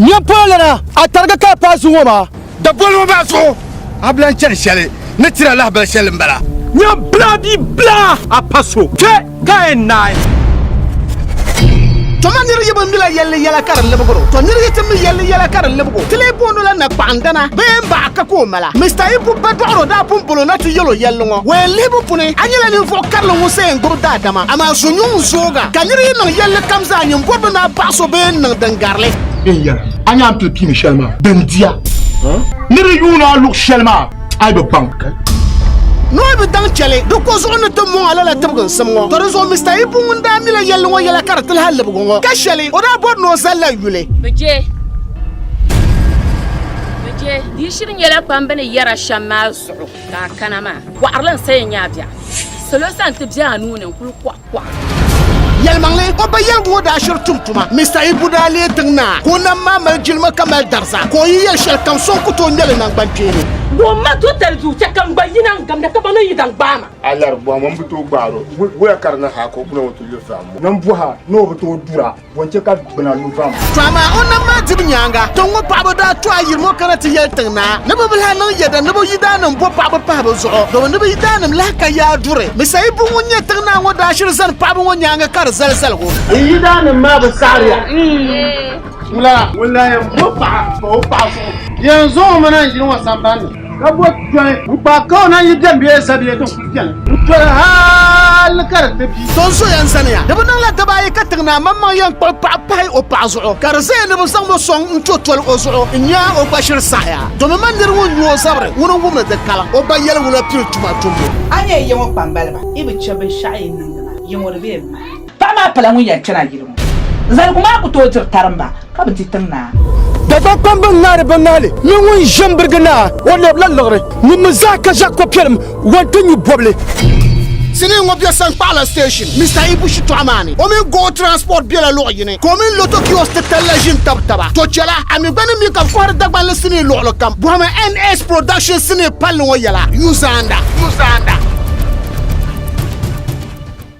Nyɛ polo lana a tarigi ka pa zuŋo maa. Da boli ŋo maa zuɣu a bilan chani shɛli ni tira lahabali shɛli n bala. Nyɛ bla bia bla a pa so kpɛ. Ka n naai. Tɔ ma nir yi bi mila yɛlli yɛla ka di libig o, tɔ nir yi ti mi yɛlli yɛla ka di libig o, ti lee boond o la nakpaɣindana bee m baɣa ka ka o mala. Mista Ibu ba dɔɣiro daa pun bol o na ti yɛl o yɛlli ŋɔ, Wɛin lihibu puni, a nyɛla ninvuɣ karili ŋun sayin gbubi daadama, amaa so nyuŋ n-zooga. Ka nir yi niŋ yɛlli kam zaa nyin bɔri bi ni a baɣis o bee n-niŋ din gari li. N yɛra, a ni a ni pili piimi shɛli maa, din diya. Nir yi yuun a luɣ shɛli maa. a yi bi baŋ. Nɔhi bi daŋ chɛli di ko zuɣu ni ti mɔŋ a lala tibiginsim ŋɔ. Tɔ di zuɣu Mr Ibu ŋun daa mila yɛlli ŋɔ yɛla ka di ti lahi libigu ŋɔ, ka shɛli o daa bɔri ni o zali la yuli. Bi je, bi je, di shiri nyɛla pam bɛ ni yɛra shɛm maa zuɣu ka a kana maa. Bɔɣiri li n-saya nya a biɛɣu. Salo sani ti be a nuu ni n-kul kɔh. Yɛlimaŋli, o ba yɛligu ŋɔ daa shiri tum tuma. Mista Ibu daa leei tiŋ naa ka o nam maa mali jilima ka mali dariza ka o yi yɛli shɛli kam so n-ku ti o ŋmɛ li naŋgbankpeeni. Ka o ma to tali zuɣu chɛ ka m gba yina n-gamda ka ba ni yi zaŋ gbaai ma. A lari bɔhima m-bi tooi gbaar o. Wuhiya ka di niŋ ha ka o gbuna ŋɔ ti yo zahimbu. Nambɔha ni o bi tooi dura. Bɔnchɛ ka gbuna lu vam. To amaa o nam maa dibu nyaaŋa, tiŋ ŋɔ paɣaba daa to ayiri ŋɔ kana ti yɛli tiŋ naa ni bɛ bihi niŋ yɛda ni bɛ yidaanim bo paɣaba pahi bɛ zuɣu domi ni bɛ yidaanim lahi ka yaa duri mi sayi buŋ ŋun nyɛ tiŋ naa ŋɔ daa shiri zani paɣaba ŋɔ nyaaŋa ka di zali zaligu. N yidaanim maa bi saɣiri ya wula? Ŋun lahi yɛn bo paɣa pa o paɣa zuɣu yɛn zaŋ o mana n yili ŋɔ samban ni. Ka bo tɔni n-kpaai ka o na yi dɛm bee sa bee din kul beni n-toli hal ka di ti bi. Sonso yɛn zaniya. Di bi niŋ la daba ayi ka tiŋ naa maŋmaŋ yɛn kpuɣi paɣa pahi o paɣa zuɣu, ka di zaya ni bɛ zaŋ ma sɔŋ n-to toli o zuɣu n-nya o gba ʒiri saɣiya. Domi ma nir ŋun nyu o zabiri ŋun n-wum ni di kala o ba yɛligu la pili tuma tumbu. A nyɛ yiŋɔ kpambaliba, yi bi chɛ binshɛɣu yi ni niŋdi maa, yiŋɔ di bee m-maŋ. Paɣa maa pala ŋun yɛn kpɛna yili ŋɔ. Zaligu maa ku tooi diri tarimba ka bi di tiŋnaa. Dagbaŋ kpamba n-ŋaari binnahili mini ŋun ʒe m-birigi naa. O leebila liɣiri ŋun mi zaa ka ʒe kopiɛlim wan ti nyu bɔbili. Sinii ŋɔ be Sankpahila Station Mister Ibu shitɔɣu maa ni. O mini Gold Transport bela luɣ yini ka o mini Lotto Kiosk titali la ʒi n-tab taba. To chɛla a mi gba ni mi ka bɛ kɔhiri Dagbanli sinii luɣili kam. Bɔhimi NS Production sinii palli ŋɔ yɛla, Yu Zaanda.